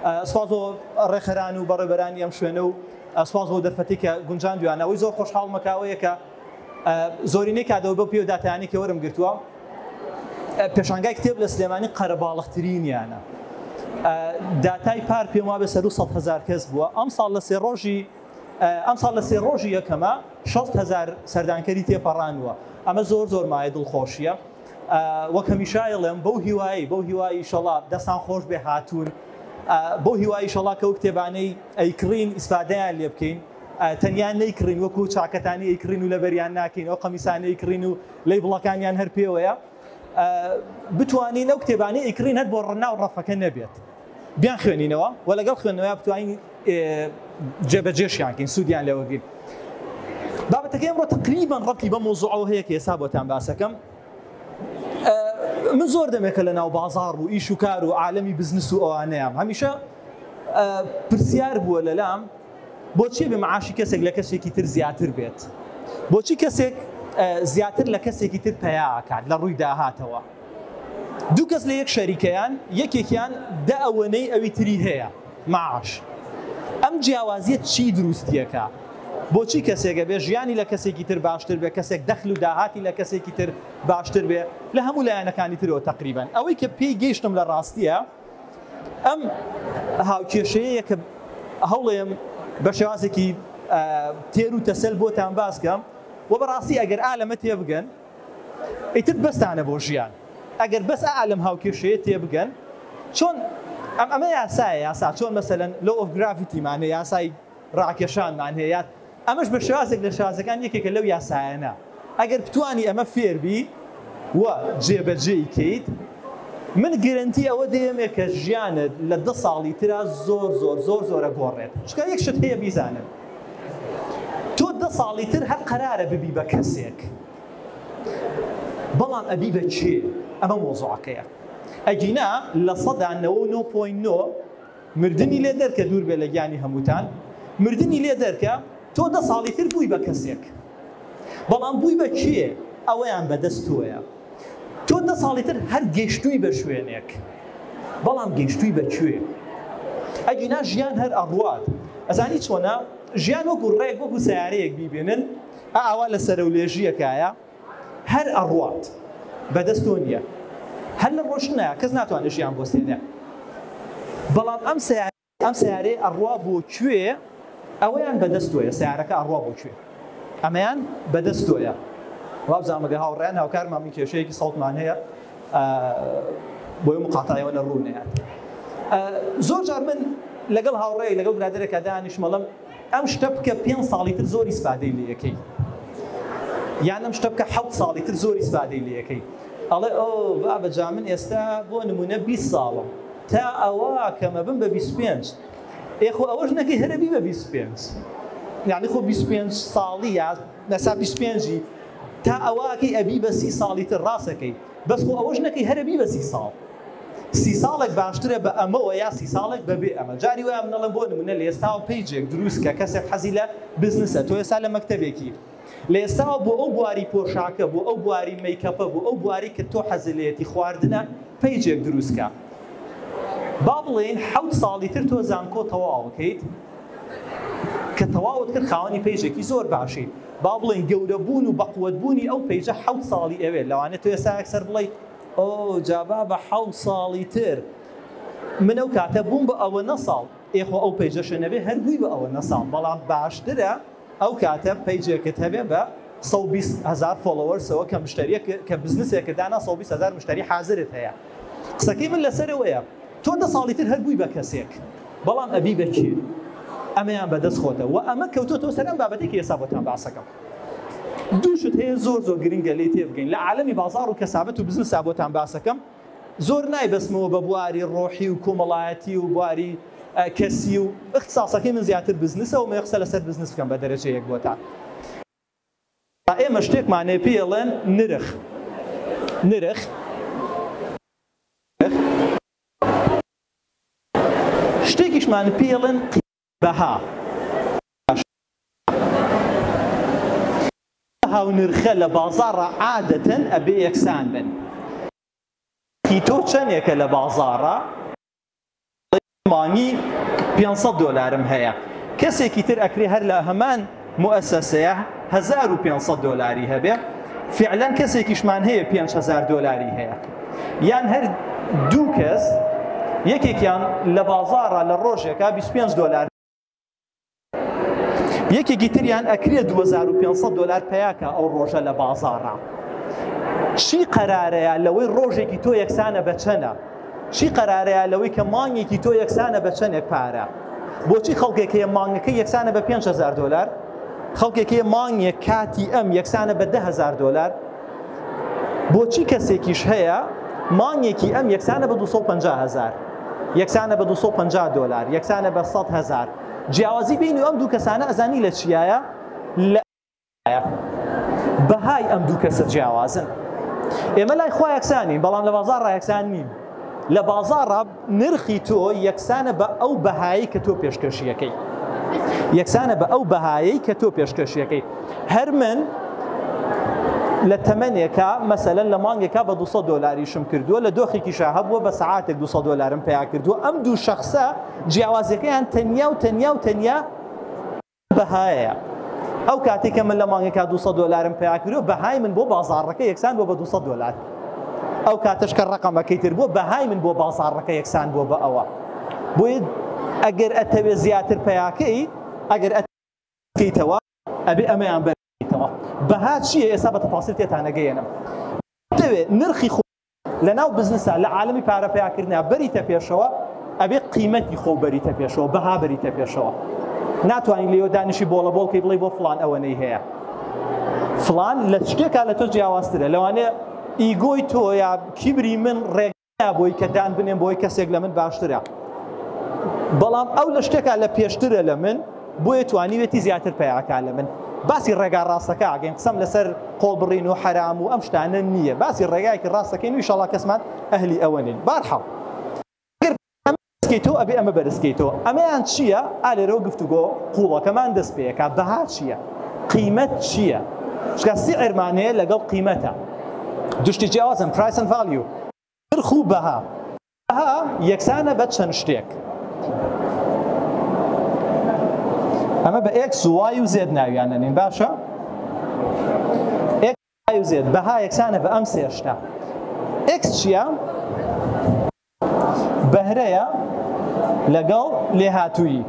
سپاس بۆ ڕێخەران و بەڕێبەرانی ئەم شوێنە و سپاس بۆ دەرفەتی کە گونجان دویانە ئەوەی زۆر خۆشحاڵ مەکاوەیە کە زۆرینەی کادەوە بە پێ و داتیانی کە وەرم گرتووە پێشانگای کتێب لە سلێمانی قەرەباڵخترینیانە داتای پار پێم وابێ سەر و سە هزار کەس بووە ئەم ساڵ لە سێ ڕۆژی ئەم ساڵ لە سێ ڕۆژی یەکەمە 6هزار سەردانکەری تێپەڕانوە ئەمە زۆر زۆر مایە دڵخۆشیە وەک هەمیشە ئەیڵێم بەو هیوایەی بەو هیوای ئیشەڵا دەستان خۆش بێ هاتوون بەو هیوای ئیشەڵا کەو کتێبانەی ئەیکڕین ئیسفادەیان لێ بکەین تەنیا نەیکڕین وەکو چاکەتانی ئەیکڕین و لەبەریان ناکەین ئەو قەمیسانەی کڕین و لی بڵەکانیان هەر پێوەیە بتوانین ئەو کتێبانی ئەیکڕین هەر بۆ ڕنا و ڕەفەکە نەبێت بیانخوێنینەوە و لەگەڵ خوێندنەوەیا بتوانین جێبەجێشیان کەین سوودیان لێ وەرگرین بابەتەکەی ئەمڕۆ تقریبا ڕەبتی بە مەوزوعەوە هەیە کە ئێستا بۆتان باسەکەم من زۆر دەمێکە لە ناو بازار و ئیش و کار و عالمی بزنس و ئەوانەیەم هەمیشە پرسیار بووە لەلام بۆچی بێ معاشی کەسێک لە کەسێکی تر زیاتر بێت بۆچی کەسێک زیاتر لە کەسێکی تر پیاکات لە ڕووی داهاتەوە دوو کەس لە یەک شەریکەیان یەکێکیان دە ئەوەنەی ئەوی تری هەیە معاش ئەم جیاوازیە چی دروستیەکا بۆچی کەسێک ئەبێ ژیانی لە کەسێکی تر باشتر بێ کەسێک دەخل و داهاتی لە کەسێکی تر باشتر بێ لە هەموو لایەنەکانی ترەوە تەقریبەن ئەوەی کە پێی گەیشتم لە ڕاستیە ئەم هاوکێشەیە کە هەوڵێم بە شێوازێکی تێر و تەسەل بۆتان باسکەم و بەڕاستی ئەگەر ئا لەمە تێبگەن ئیتر بەستانە بۆ ژیان ئەگەر بەس ئائا لەم هاوکێشەیە تێبگەن چۆن ئەم ئەمە یاسایە یاسا چۆن مەسەلەن لۆ ئۆف گراڤیتیمان هەیە یاسای ڕاکێشانمان هەیە یاد ئەمەش بە شێوازێک لە شێوازەکان یەکێکە لەو یاسایانە ئەگەر بتانی ئەمە فێربی و جێبەجێی کەیت من گرنتی ئەوە دێمێ کە ژیانت لە دە ساڵی ترا زۆر زۆر زۆر زۆرە گۆڕێت چکە یەک شت هەیە بیزانن تۆ دە ساڵی تر هەر قەرارە ببی بە کەسێک بەڵام ئەبی بە کێ ئەمە مۆزوعەکەیە ئەگینا لە سەدا نەوە و نۆ پۆین نۆ مردنی لێ دەرکە دوور بێ لە گیانی هەمووتان مردنی لێ دەرکە تۆ دە ساڵی تر بووی بە کەسێک بەڵام بووی بە کێ ئەوەیان بەدەست تۆیە تۆ دە ساڵی تر هەر گەیشتووی بە شوێنێک بەڵام گەیشتووی بە کوێ ئەگینا ژیان هەر ئەڕوات ئەزانی چۆنە ژیان وەکو ڕێک وەکو سیارەیەک بیبێنن ئاوا لە سەرەولێژیەکایە هەر ئەڕوات بەدەست تۆ نییە هەر لە ڕۆشنە کەس ناتوانێت ژیان بۆ سێنێ بەڵام ئەم سیارە ئەم سەیارەیە ئەڕوا بۆ کوێ؟ ئەوەیان بەدەست تۆیە سەیارەکە ئەڕوا بۆ کوێ؟ ئەمەیان بەدەست تۆیە وابزانم ئەگەر هاوڕێیان هاوکارمان بن کێشەیەکی سەوتمان هەیە بۆیە مقاطعەی ئەوەنە ڕوو نەیات زۆر جار من لەگەڵ هاوڕێیەک لەگەڵ برادەرێکا دانیشم ئەڵێم ئەم شتە بکە پێنج ساڵی تر زۆر ئیسفادەی لێ ئەکەی یان ئەم شتە بکە حەوت ساڵی تر زۆر ئیسفادەی لێ ئەکەی ئەڵێ ئۆ بابە جا من ئێستا بۆ نمونە بیست ساڵم تا ئەوە کەم ئەبم بە بیست و پێنج ئێ خۆ ئەوەش نەکەی هەر ئەبی بە بیست و پێنج یانی خۆ بیست و پێنج ساڵی یا نەسا بیست و پێنجی تا ئەوە ئەکەی ئەبی بە سی ساڵی تر ڕاست ئەکەی. بەس خۆ ئەوەش نەکەی هەرە بی بە سی ساڵ سی ساڵێک باشترە بە ئەمەوە یا سی ساڵێک بە بێ ئەمە جاری وایە منەڵێن بۆ نمونە لە ئێستاوە پەیجێک دروست کە کەسێک حەزی لە بزنسە تۆ ئێستا لە مەکتەبێکی لە ئێستاوە بۆ ئەو بواری پۆشاکە بۆ ئەو بواری مەیکەپە بۆ ئەو بواری کە تۆ حەزی لێتی خواردنە پەیجێک دروستکە با بڵێین حەوت ساڵی تر تۆ زانکۆ تەواوکەیت کە تەواوت کرد خاوەنی پەیجێکی زۆر باشی با بڵێین گەورە بوون و بەقوەت بوونی ئەو پەیجە حەوت ساڵی ئەوێ لەوانێت تۆ ئێستا ئەکسەر بڵیت ئۆ جابا بە حەوت ساڵی تر من ئەو کاتە بووم بە ئەوە نە ساڵ ئێخۆ ئەو پەیجەشە نەبێ هەر بووی بە ئەوە نە ساڵ بەڵام باشترە ئەو کاتە پەیجێکت هەبێ بە سەد و بیست هەزار فۆڵۆوەرسەوە کە مشتەریەک کە بزنسێکت دانا سەد و بیست هەزار مشتەری حازرت هەیە قسەکەی من لەسەر ئەوەیە تۆ دە ساڵی تر هەر بووی بە کەسێک بەڵام ئەبی بە کێ ئەمەیان بەدەست خۆتە و ئەمە کەوتۆتەوە سەر ئەم بابەتی کە ئێستا بۆتان باسەکەم دووشت هەیە زۆر زۆر گرنگە لی تێبگەین لە عالەمی بازار و کەسابەت و بزنسا بۆتان باسەکەم زۆر نایبەستمەوە بە بواری ڕۆحی و کۆمەڵایەتی و بواری کەسی و ئیختساسەکەی من زیاتر بزنسە ومەوێ قسە لەسەر بزنس بکەم بە دەرەجە یەک بۆتان. ئێمە شتێکمان هەیە پێی ئەڵێن نرخ نرخ شتێکیشمان پێی ئەڵێن قیمەت. بەها ئەم بەها و نرخە لە بازاڕا عادەتەن ئەبێ یەکسان بن نرخی تۆ چەنێکە لە بازاڕا بڵێ مانگی پێنج سەد دۆلارم هەیە کەسێکی تر ئەکرێ هەر لە هەمان موئەسەسەیە هەزار و پێنج سەد دۆلاری هەبێ فعلەن کەسێکیشمان هەیە پێنج هەزار دۆلاری هەیە یان هەر دوو کەس یەکێکیان لە بازاڕە لە ڕۆژێکا 25 دۆلار یەکێکی تریان ئەکرێ 2500 دلار پیاکە ئەو ڕۆژە لە بازاڕە چی قەرارەیە لەوەی ڕۆژێکی تۆ یەکسانە بەچەنە چی قەرارەیە لەوەی کە مانگێکی تۆ یەکسانە بە چەندێک پارە بۆچی خەڵکێک هەیە مانگەکە یەکسانە بە 5هزار دلار خەڵکێک هەیە مانگێک کاتی ئەم یەکسانە بە دههزار دلار بۆچی کەسێکیش هەیە مانگێکی ئەم یەکسانە بە 250 هزار یەکسانە بە 250 دلار یەکسانە بە 100 هزار جیاوازی بینی ئەم دوو کەسانە ئەزانی لە چیایە ئایا بەهای ئەم دوو کەسە جیاوازن؟ ئێمە لای خوا یەکسانین بەڵام لە بازار ڕایەکسان نین لە بازاڕە نرخی تۆ یەکسانە بە ئەو بەهایی کە تۆ پێشکەشیەکەی یەکسانە بە ئەو بەهایی کە تۆ پێشکەشیەکەی هەر من لە تەمەنێکە مەسەلەن لە مانگێکا بە 200 دلاریشم کردووە لە دۆخێکیشا هەبووە بە سعاتێک 200 دلارم پیا کردووە ئەم دوو شخصە جیاوازەکەیان تەنیا و تەنیا و تەنیا بەهایە ئەو کاتێک کە من لە مانگەکە 200 دۆلارم پیا کردو بەهای من بۆ بازاڕەکە یەکسان بۆ بە 200 دۆلار ئەو کاتەش کە ڕقەمەکەی تر بۆ بەهای من بۆ بازاڕەکە یەکسان بۆ بە ئەوە بۆی ئەگەر ئەتەوێ زیاتر پیاکەی ئەگەر ئەتەوە ئەبێ ئەمەیان بەرەوە بەها چیە ئێستا بە تەفاسیل تێتانەگەیەنم دەوێ نرخی خۆ لە ناو بزنسا لە عالەمی پارە پەیا کردنا بەریتە پێشەوە ئەبێ قیمەتی خۆو بەریتە پێشەوە بەها بەریتە پێشەوە ناتوانین لێوە دانیشی بۆڵە بۆڵ کەی بڵێ بۆ فلان ئەوەنەی هەیە فلان لە شتێکا لە تۆ جیاوازترە لەوانێ ئیگۆی تۆ یا کیبری من ڕێک بۆی کە دان بنێم بۆی کەسێک لە من باشترە بەڵام ئەو لە شتێکا لە پێشترە لە من بۆیە توانیوێتی زیاتر پەیاکا لە من باسی ڕێگا ڕاستەکە ئەگەین قسەم لەسەر قۆڵبڕین و حەرام و ئەم شتانە نییە باسی ڕێگایەکی ڕاستەکەین ویشەڵا کەسمان ئەهلی ئەوە نین بارحاڵ کەیتۆ ئەبێ ئەمە بەرزکەیتۆ ئەمەیان چییە ئالێرەوە گفتوگۆ قوڵەکەمان دەست پێەکە بەها چییە قیمەت چییە شکە سیعرمانەیە لەگەڵ قیمەتە دوشتی جیاوازن پرایسن ڤالیو نرخ و بەها، بەها یەکسانە بە چەند شتێک، ئەمە بە ئێکس و وای و زێد ناویان ئەنێین باشە، ئێکس وای و زێد، بەها یەکسانە بە ئەم سێ شتە، ئێکس چییە؟ بەهرەیە لەگەڵ لێهاتوویی،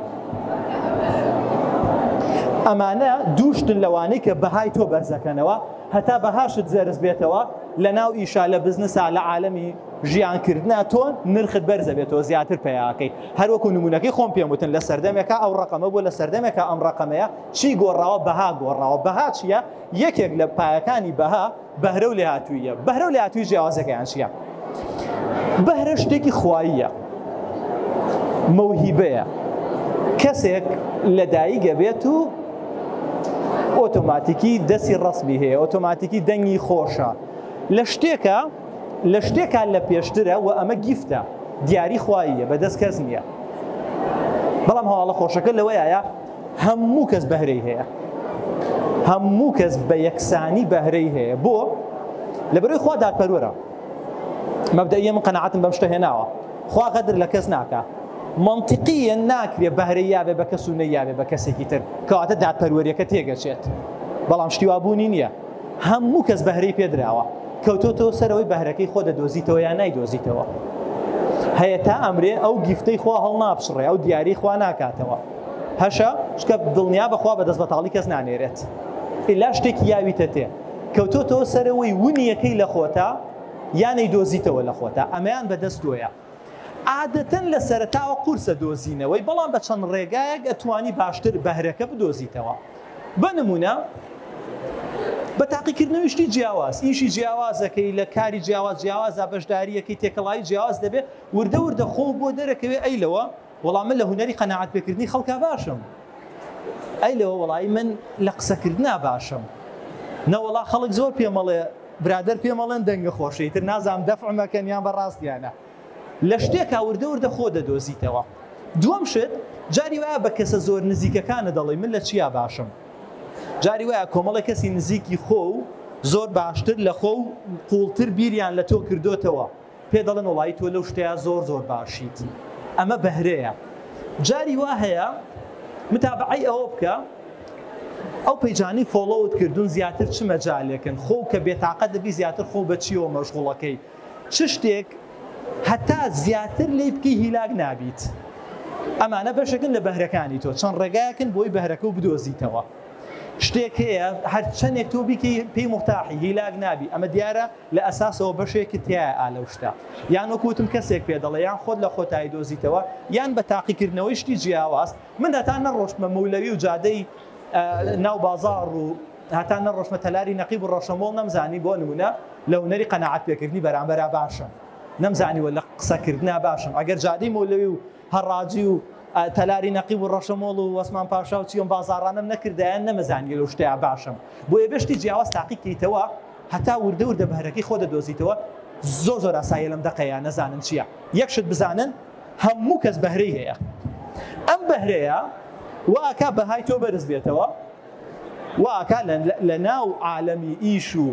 ئەمانە دوو شتن لەوانەی کە بەهای تۆ بەرزەکەنەوە، هەتا بەهاشت زەرز بێتەوە لە ناو ئیشا لە بزنسا لە عالەمی ژیان کردنا تۆ نرخت بەرزە بێتەوە زیاتر پیاکەی هەروەکو نمونونەکەی خۆم پێم وتن لە سەردەمێکە ئەو ڕقەمە بۆ لە سەردەمێکە ئەم ڕقەمەیە چی گۆڕاوە بەها گۆڕاوە بەها چییە یەکێک لە پایەکانی بەها بەهرە و لێهاتوویە بەهرە و لاتوی جیاوازەکەیان چیە بەهرە شتێکی خواییە مەوهیبەیە کەسێک لە دایگە بێت و ئۆتۆماتیکی دەستی ڕسمی هەیە ئۆتۆماتیکی دەنگی خۆشە لە شتێکە لە شتێکە لە پێشترە و ئەمە گیفتە دیاری خواییە بەدەست کەس نییە بەڵام هەواڵە خۆشەکە لەوەیە هەموو کەس بەهرەی هەیە هەموو کەس بە یەکسانی بەهرەی هەیە بۆ لە بەرەی خوا دادپەروەرە مەبدەئیە من قەناعەتم بەم شتە هێناوە خوا غەدر لە کەس ناکا منطقیە ناکرێ بەهرە یاێ بە کەس و نەیاێ بە کەسێکی تر کەواتە دادپەروەریەکە تێگەچێت بەڵام شتیوابوونی نییە هەموو کەس بەهرەی پێدراوە کەوتۆتۆ سەرەوەی بەهرەکەی خۆ دەدۆزیتەوە یان نایدۆزیتەوە هەیە تا ئەمرێ ئەو گیفتەی خوا هەڵ ناپشڕێ ئەو دیاری خوا ناکاتەوە هەشە شکە دڵنیا بەخوا بە دەست بەتاڵی کەس نانێرێت ئیلا شتێکی یاویتە تێ کەوتۆتەوە سەرەوەی ون یەکەی لە خۆتە یان ئەیدۆزیتەوە لە خۆتە ئەمەیان بە دەست تۆیە عادەتەن لە سەرەتاوە قورسە دۆزینەوەی بەڵام بە چەند ڕێگایەک ئەتوانی باشتر بەهرەکە بدۆزیتەوە بە نمونە بە تاقیکردنەوەی شتی جیاواز ئیشی جیاوازەکەی لە کاری جیاواز جیاوازە بەشداریەکەی تێکەڵایی جیاواز دەبێت وردە وردە خۆ بۆ دەرەکەوێ ئەی لەوە وەڵا من لە هونەری قەناعەت پێکردنی خەڵکا باشم ئەی لەوە وەڵایی من لە قسەکردنا باشم نەوەڵا خەڵک زۆر پێمەڵێ برادەر پێمەڵێن دەنگە خۆشەی تر نازام دەفعمەکەن یان بە ڕاستیانە لە شتێکا وردە وردە خۆ دەدۆزیتەوە دووەم شت جاری وایە بە کەسە زۆر نزیکەکانە دەڵێ من لە چیا باشم جاری وایە کۆمەڵی کەسی نزیکی خۆ و زۆر باشتر لە خۆ و قوڵتر بیریان لە تۆ کردوتەوە پێ دەڵێن وەڵایی تۆ لەو شتەیا زۆر زۆر باشیت ئەمە بەهرەیە جاری وا هەیە متابعەی ئەوە بکە ئەو پەیجانی فۆڵۆوت کردوون زیاتر چ مەجالێکن خۆ کە بێتاقە دەبی زیاتر خۆ بەچیەوە مەشغوڵەکەی چ شتێک هەتا زیاتر لی بکەی هیلاک نابیت ئەمانە بەشەکن لە بەهرەکانی تۆ چەند ڕێگاکن بۆی بەهرەکە و بدۆزیتەوە شتێک هەیە هەرچەندێک تۆ بیکەی پێی مختاحی هیلاک نابی ئەمە دیارە لە ئەساسەوە بەشێکت تیایە ئا لەو شتە یان وەکو وتم کەسێک پێ دەڵێ یان خۆت لە خۆت ئایدۆزیتەوە یان بە تاقی کردنەوەی شتی جیاواز من هەتا نەڕۆشتمە مەولەوی و جادەی ناو بازاڕ و هەتا نەڕۆشتمە تەلاری نەقیب و ڕەشەمۆڵ نەمزانی بۆ نمونە لە هونەری قەناعەت پێکردنی بەرامبەرا باشم نەمزانیوە لە قسە کردنا باشم ئەگەر جادەی مەولەوی و هەڕاجی و تەلاری نەقیب و ڕەشەمۆڵ و وەسمان پاشا و چیۆن بازاڕانەم نەکردایە نەمەزانیە لەو شتەیا باشم بۆیە بێ شتی جیاواز تاقی کەیتەوە هەتا وردە وردە بەهرەکەی خۆ دەدۆزیتەوە زۆر زۆر ئاساییە لەم دەقەیا نەزانن چیە یەک شت بزانن هەموو کەس بەهرەی هەیە ئەم بەهرەیە وا ئەکا بەهای تۆ بەرز بێتەوە وا ئەکا لە ناو عالەمی ئیش و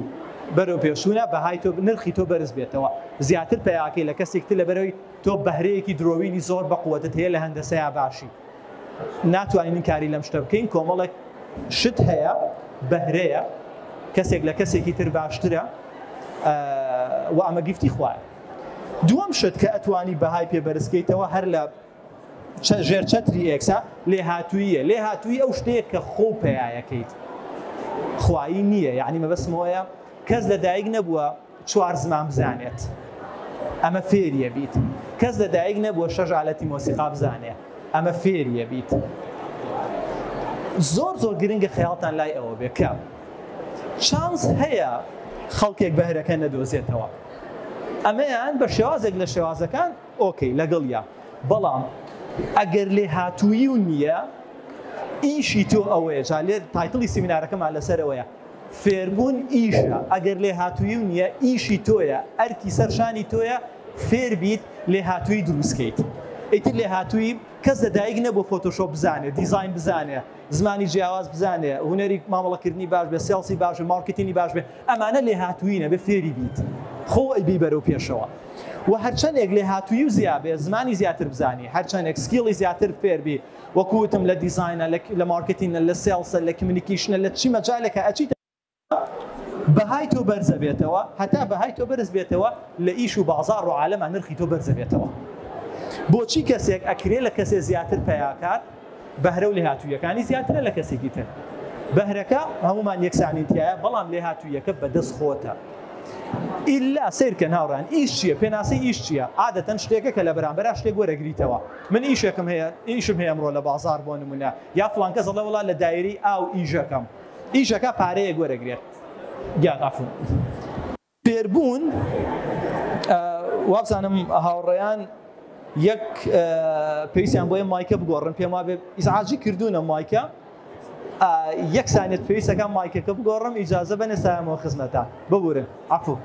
بەرەو پێشوونە بەهای تۆ نرخی تۆ بەرز بێتەوە زیاتر پیاکەی لە کەسێکتر لەبەرەوەی تۆ بەهرەیەکی درۆوینی زۆر بەقوەتت هەیە لە هەندەسەیا باشی ناتوانین کاری لەم شتە بکەین کۆمەڵێک شت هەیە بەهرەیە کەسێک لە کەسێکی تر باشترە و ئەمە گفتی خوایە دووەم شت کە ئەتوانی بەهای پێ بەرزکەیتەوە هەر لە ژێر چەتری ئێکسا لێ هاتوویە لێ هاتووی ئەو شتەیە کە خۆ پێیەکەیت خوایی نییە یعنی مەبەسمەوەیە کەس لە دایک نەبووە چوار زمان بزانێت ئەمە فێریە بیت کەس لە دایک نەبووە شەش ئالەتی مۆسیقا بزانێ ئەمە فێریە بیت زۆر زۆر گرنگە خەیاڵتان لای ئەوە بێ کە چانس هەیە خەڵکێک بەهرەکە نەدۆزێتەوە ئەمەیان بە شێوازێک لە شێوازەکان ئۆکەی لەگەڵ یا بەڵام ئەگەر لێ هاتووی و نییە ئیشی تۆ ئەوەیە جا لێ تایتڵی سیمینارەکەمان لەسەرەوەیە فێربوون ئیشە، ئەگەر لێهاتوویی و نییە، ئیشی تۆیە، ئەرکی سەر شانی تۆیە فێر بیت لێهاتوویی دروست کەیت. ئیتر لێهاتوویی، کەس لە دایک نەبووە فۆتۆشۆپ بزانێ، دیزاین بزانێ، زمانی جیاواز بزانێ، هونەری مامەڵەکردنی باش بێ، سێڵسی باش بێ، مارکێتینی باش بێ، ئەمانە لێهاتوویی نەبێ فێری بیت، خۆو ئەیبەی بەرەو پێشەوە. وە هەرچەندێک لێهاتوویی و زیا بێ، زمانی زیاتر بزانی، هەرچەندێک سکیڵی زیاتر فێر بی، وەکو وتم لە دیزاینە لە مارکتینە لە سێڵسە لە کمیونیکیشنە لە چی مەجالێکا ئەچیتە بەهای تۆ بەرزەبێتەوە هەتا بەهای تۆ بەرز بێتەوە لە ئیش و بازار و عالەما نرخی تۆ بەرزەبێتەوە بۆچی کەسێک ئەکرێ لە کەسێ زیاتر پیاکات بەهرە و لێهاتوویەکانی زیاترە لە کەسێکی تر بەهرەکە هەمومان یەکسانی تایە بەڵام لێهاتوویەکە بەدەست خۆتە ئیلا سیرکە ناوڕان ئیش چیە پێناسی ئیش چیە عادەتەن شتێکە کە لە بەرامبەر شتێک وەرەگریتەوە من ئیشێکم هەیە ئیشم هەیە ئەمڕۆ لە بازاڕ بۆ نمونە یا فڵان کەس دەڵێ وەڵا لە دایرەی ئاو ئیشەکەم ئیشەکە پارەیەک وەرەگرێت گیان ئەفون. فێربوون وابزانم هاوڕێیان یەک پێویستیان بۆیە مایکە بگۆڕن پێم وابێ ئیزعاجی کردوونە مایکە. یەک سانیە پێویست ئەکا مایکەکە بگۆڕم ئیجازە بەنێ سایەمەوە خزمەتا ببورن عەفو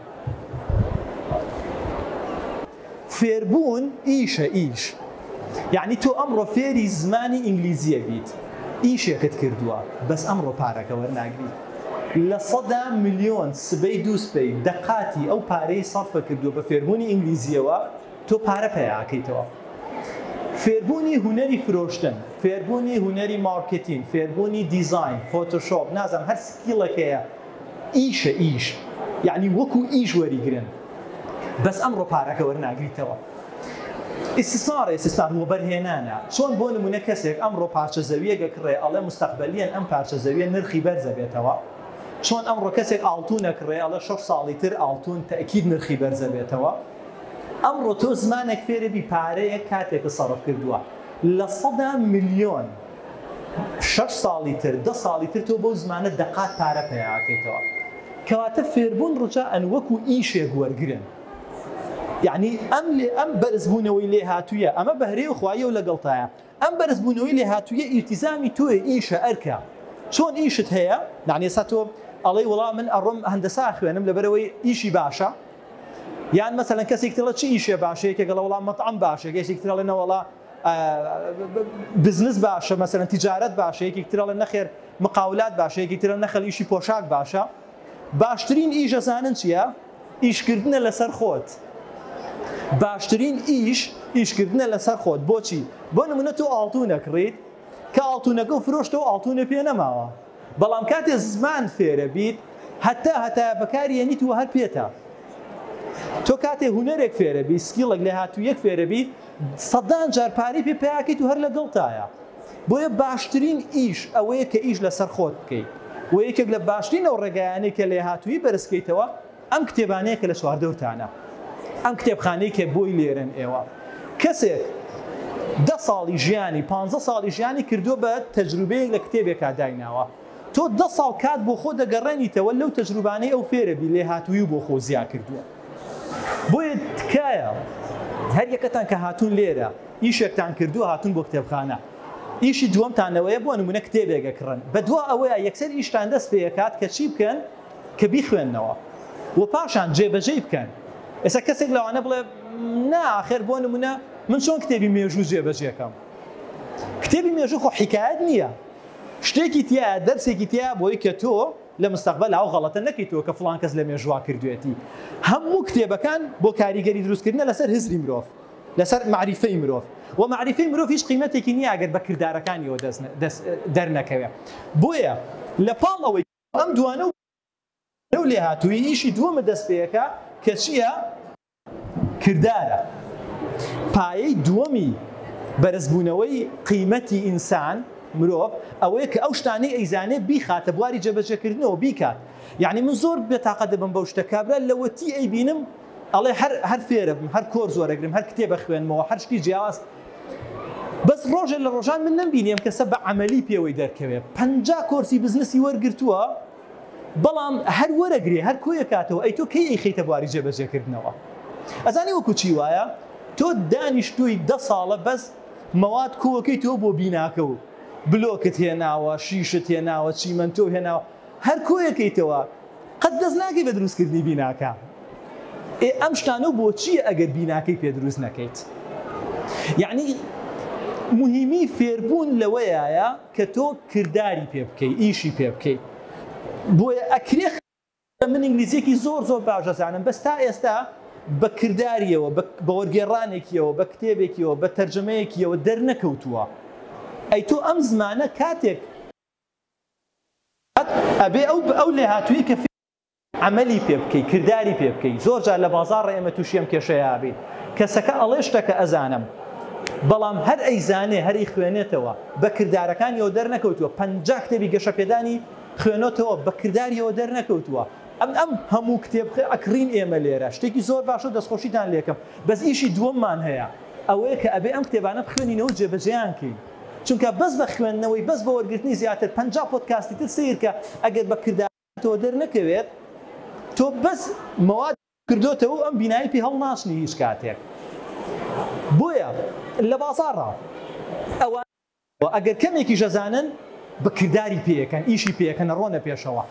فێربوون ئیشە ئیش یعنی تۆ ئەمڕۆ فێری زمانی ئینگلیزیە بیت ئیشێکت کردووە بەس ئەمڕۆ پارەکە وەرناگری لە سەدا ملیۆن سبەی دووسبەی دەقاتی ئەو پارەی سەرفە کردووە بە فێربوونی ئینگلیزیەوە تۆ پارە پەیا ئەکەیتەوە فێربوونی هونەری فرۆشتن فێربوونی هونەری مارکێتین فێربوونی دیزاین فۆتۆشۆپ نازانم هەر سکیڵێک هەیە ئیشە ئیش یعنی وەکو ئیش وەریگرن بەس ئەمڕۆ پارەکە وەرناگریتەوە ئیسسارێ سستار وەبەرهێنانە چۆن بۆ نمونە کەسێک ئەمڕۆ پارچە زەویە گەکڕێ ئەڵێ مستەقبەلیەن ئەم پارچە زەویە نرخی بەرزە بێتەوە چۆن ئەمڕۆ کەسێک ئاڵتونە کڕێ ئەڵە شەش ساڵی تر ئاڵتون تەکیید نرخی بەرزە بێتەوە ئەمڕۆ تۆ زمانێک فێربی پارەیەک کاتێکت سەرف کردووە لە سەدا ملیۆن شەش ساڵی تر دە ساڵی تر تۆ بەو زمانە دەقات پارە پەیاکەیتەوە کەواتە فێربوون ڕجائەن وەکو ئیشێک وەرگرن یەعنی ئەم لێ ئەم بەرزبوونەوەی لێهاتوویە ئەمە بەهرەی خواییەو لەگەڵتایە. ئەم بەرزبوونەوەی لێهاتووییە ئیلتیزامی تۆیە، ئیشە، ئەرکە. چۆن ئیشت هەیە؟ یەعنی ئێستا تۆ ئەڵێی وەڵا من ئەڕۆم هەندەسە ئەخوێنم لەبەرئەوەی ئیشی باشە؟ یان مەسەلەن کەسێکی ترئەڵێ چ ئیشێ باشە؟ یەکێک ئەڵێ وەڵا مەتعەم باشە، یەکێکی تر ئەڵێ نەوەڵا بزنس باشە مەسەلەن تیجارەت باشە، یەکێکی تر ئەڵێ نەخێر مقاولات باشە، یەکێکی تر ئەڵێ نەخێڵ ئیشی پۆشاک باشە. باشترین ئیش ئەزانن چییە؟ ئیشکردنە لەسەر خۆت باشترین ئیش ئیشکردنە لەسەر خۆت بۆچی بۆ نمونە تۆ ئاڵتونە کڕیت کە ئاڵتونەکەو فرۆشتەوە ئاڵتونە پێ نەماوە بەڵام کاتێ زمان فێرە بیت هەتا هەتایە بەکاری یەنیت و هەر پێتە تۆ کاتێ هونەرێک فێرە بی سکیڵێک لێهاتوویەک فێرە بی سەدان جار پارەی پێ پیاکەیت و هەر لەگەڵتایە بۆیە باشترین ئیش ئەوەیە کە ئیش لەسەر خۆت بکەیت و یەکێک لە باشترین ئەو ڕێگایانەی کە لێهاتوویی بەرز کەیتەوە ئەم کتێبانەیە کە لە چواردەورتانە ئەم کتێبخانەی کە بۆی لێرەن ئێوە کەسێک دە ساڵی ژیانی پانزە ساڵی ژیانی کردووە بە تەجروبەیەک لە کتێبێکا دایناوە تۆ دە ساڵ کات بۆ خۆ دەگەڕێنیتەوە لەو تەجروبانەی ئەو فێرەبی لێهاتووی و بۆ خۆ زیا کردووە بۆیە تکایە هەر یەکەتان کە هاتوون لێرە ئیشێکتان کردووە هاتوون بۆ کتێبخانە ئیشی دووەمتانەوەیە بۆ نمونە کتێبێک ئەکڕن بە دوا ئەوەیە یەکسەر ئیشتان دەست پێ ئەکات کە چی بکەن کە بیخوێننەوە و پاشان جێبەجێی بکەن ئێستا کەسێک لەوانە بڵێ نا ئاخر بۆ نمونە من چۆن کتێبی مێژوو جێبەجێ کەم کتێبی مێژوو خۆ حیکایەت نییە شتێکی تیایە دەرسێکی تیایە بۆی کە تۆ لە مستەقبەلا ئەو غەڵەتە نەکەیتەوە کە فڵان کەس لە مێژووا کردوێتی هەموو کتێبەکان بۆ کاریگەری دروستکردنە لەسەر هزری مرۆڤ لەسەر مەعریفەی مرۆڤ و مەعریفەی مرۆڤ هیچ قیمەتێکی نییە ئەگەر بە کردارەکانیەوە دەست دەست دەرنەکەوێ بۆیە لە پاڵ ئەوەی ئەم دوانە لەو لێهاتوویی ئیشی دووەمت دەست پێەکا کە چییە؟ کردارە. پایەی دووەمی بەرز بوونەوەی قیمەتی ئینسان، مرۆڤ، ئەوەیە کە ئەو شتانەی ئەیزانێ بیخاتە بواری جێبەجێ کردنەوە بیکات. یەعنی من زۆر بێ تاقەت دەبم بەو شتە کابرا لەوەتی ئەیبینم ئەڵێ هەر هەر فێرە بم هەر کۆرس وەرەگرم هەر کتێب ئەخوێنمەوە هەر شتی جیاواز بەس ڕۆژێ لە ڕۆژان من نەم بینی ئەم کەسە بە عەمەلی پێوەی دەرکەوێ پەنجا کۆرسی بزنسی وەرگرتووە بەڵام هەر وەرەگرێ هەر کۆیە کاتەوە ئەی تۆ کەی ئەیخەیتە بواری جێبەجێکردنەوە ئەزانی وەکو چی وایە تۆ دانیشتووی دە ساڵە بەس مەواد کۆکەی تۆ بۆ بیناکە و بلۆکت هێناوە شیشت هێناوە چیمەنتۆ هێناوە هەر کۆیەکەیتەوە قەت دەست ناکەی بە دروست کردنی بیناکە ئێ ئەم شتانە و بۆچیە ئەگەر بیناکەی پێ دروست نەکەیت یعنی مهمی فێربوون لەوەیە کە تۆ کردداری پێ بکەی ئیشی پێ بکەی بۆیە ئەکرێ من ئینگلیزیەکی زۆر زۆر باش دەزانم بەس تا ئێستا بە کردداریەوە بە وەرگێڕانێکیەوە بە کتێبێکیەوە بە تەرجەمەیەکیەوە دەرنەکەوتووە ئەی تۆ ئەم زمانە کاتێک ئەبێ ئەو ئەو لێهاتووی کە عەمەلی پێ بکەی کرداری پێ بکەی زۆر جار لە بازاڕ ئێمە تووشی ئەم کێشەیە بین کەسەکە ئەڵێ شتەکە ئەزانم بەڵام هەر ئەیزانێ هەری خوێنێتەوە بە کردارەکانیەوە دەرنەکەوتووە پەنجا کتێبی گەشەپێدانی خوێنەتەوە بە کرداریەوە دەرنەکەوتووە ئەم ئەم هەموو کتێب ئەکڕین ئێمە لێرە شتێکی زۆر باشە دەستخۆشیتان لێکم بەس ئیشی دووەممان هەیە ئەوەیە کە ئەبێ ئەم کتێبانە بخوێنینەوە جێبەجێیان کەین چونکە بەس بە خوێندنەوەی بەس بە وەرگرتنی زیاتر پەنجا پۆدکاستی تر سەیرکە ئەگەر بە کردارەکەتەوە دەرنەکەوێت تۆ بەس مەوادی کردۆتەوە و ئەم بینایەی پێ هەڵناچنی هیچ کاتێک بۆیە لە بازاڕا ئەوانەی دەرکەوتوە ئەگەر کەمێکیش ئەزانن بە کرداری پێکەن ئیشی پێکەن ئەڕۆنە پێشەوە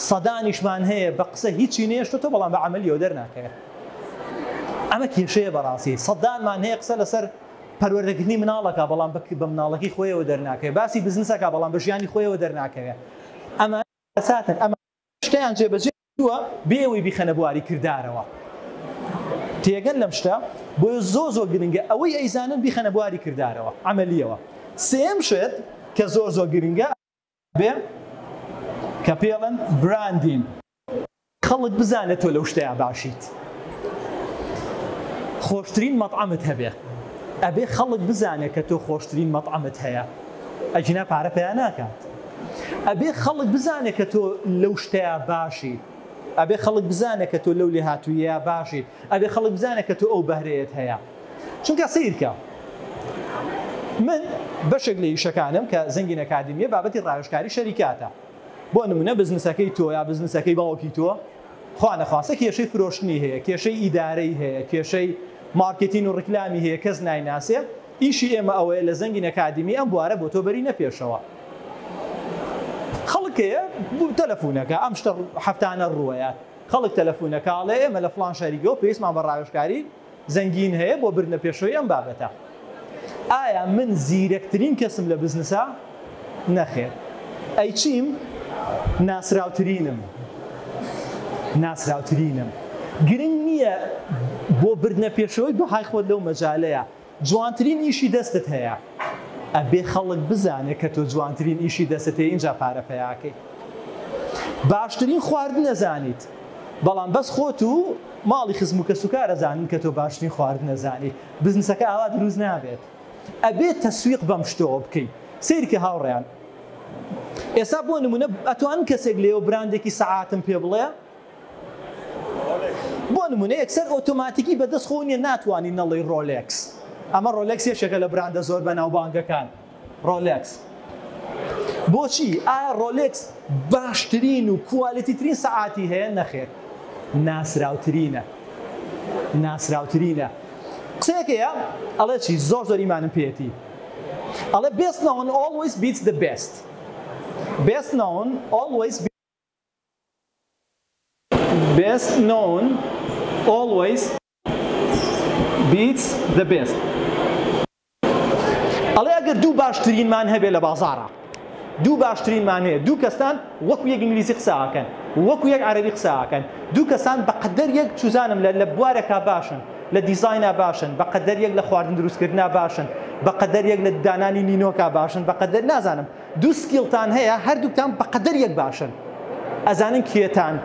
سەدانیشمان هەیە بە قسە هیچی نەیەشتۆتەوە بەڵام بە عەمەلیەوە دەرناکەوێت ئەمە کێشەیە بەڕاستی سەدانمان هەیە قسە لەسەر پەروەردەکردنی مناڵ ئەکا بەڵام بە بە مناڵەکەی خۆیەوە دەرناکەوێ باسی بزنس ئەکا بەڵام بە ژیانی خۆیەوە دەرناکەوێ ئەمانە کارەساتن ئەمانە شتەیان جێبەجێ کردووە بێ ئەوەی بیخەنە بواری کردارەوە تێگەن لەم شتە بۆیە زۆر زۆر گرنگە ئەوەی ئەیزانن بیخەنە بواری کردارەوە عەمەلیەوە سێم شت کە زۆر زۆر گرنگە بێ کە پێڵێن براندین. خەڵک بزانێ تۆ لەو شتەیا باشیت خۆشترین مەتعەمت هەبێ ئەبێ خەڵک بزانێ کە تۆ خۆشترین مەتعەمت هەیە ئەگینا پارە پەیا ناکات ئەبێ خەڵک بزانێ کە تۆ لەو شتەیا باشیت ئەبێ خەڵک بزانێ کە تۆ لەو لێهاتوویەیا باشیت ئەبێ خەڵک بزانێ کە تۆ ئەو بەهرەیەت هەیە چونکە سەیرکە من بەشێک لە ئیشەکانم کە زەنگین ئەکادیمیە بابەتی ڕاوێژکاری شەریکاتە بۆ نمونە بزنسەکەی تۆ یا بزنسەکەی باوکی تۆ خوا نەخواستە کێشەی فرۆشتنی هەیە کێشەی ئیدارەی هەیە کێشەی مارکێتین و ڕیکلامی هەیە کەس نایناسێ ئیشی ئێمە ئەوەیە لە زەنگین ئەکادیمی ئەم بوارە بۆ تۆ بەرینە پێشەوە خەڵک هەیە تەلەفونەکە ئەم شتە هەفتانە ڕووەیە خەڵک تەلەفون ئەکا ئەڵێ ئێمە لە فڵان شاری گەو پێویستمان بە ڕاوێژکاری زەنگین هەیە بۆ بردنە پێشەوەی ئەم بابەتە. ئایا من زیرەکترین کەسم لە بزنسا؟ نەخێر. ئەی چیم؟ ناسراوترینم. ناسراوترینم. گرنگ نییە بۆ بردنە پێشەوەی بەهای خۆت لەو مەجالەیا. جوانترین ئیشی دەستت هەیە؟ ئەبێ خەڵک بزانێ کە تۆ جوانترین ئیشی دەستت هەیە ئینجا پارە پەیاکەی. باشترین خواردن ئەزانیت بەڵام بەس خۆت و ماڵی خزم و کەسوکار ئەزانن کە تۆ باشترین خواردن ئەزانیت بزنسەکە ئاوا دروست نابێت ئەبێ تەسویق بەم شتەوە بکەی سەیرکە هاوڕێیان ئێستا بۆ نمونە ئەتوانن کەسێک لێوە براندێکی سەعاتم پێ بڵێ بۆ نمونە یەکسەر ئۆتۆماتیکی بە دەست خۆو نیە ناتوانی نەڵێی ڕۆلێکس ئەمە ڕۆلێکس یەکێکە لە براندە زۆر بەناوبانگەکان ڕۆلێکس بۆچی ئایا ڕۆلێکس باشترین و کوالیتی ترین سەعاتی هەیە نەخێر ناسراوترینە ناسراوترینە قسەیەک هەیە ئەڵێ چی زۆر زۆر ئیمانم پێێتی ئەڵێ بێست ناون ئۆڵویس بیت دە بێست بێست ناون ئۆڵویس بێست نۆون ئۆڵوەیس بیتس دە بێست. ئەڵێ ئەگەر دوو باشترینمان هەبێ لە بازاڕا دوو باشترینمان هەیە دوو کەستان وەکو یەک ئینگلیزی قسە ئاکەن وەکو یەک عەرەبی قسە ئاکەن دوو کەسان بە قەدەر یەک چوزانم لە لە بوارێکا باشن لە دیزاینا باشن بە قەدەر یەک لە خواردن دروست کردنا باشن بە قەدەر یەک لە دانانی نینۆکا باشن بە قەدەر نازانم دوو سکیڵتان هەیە هەردووکتان بەقەدەر یەک باشن ئەزانن کێتان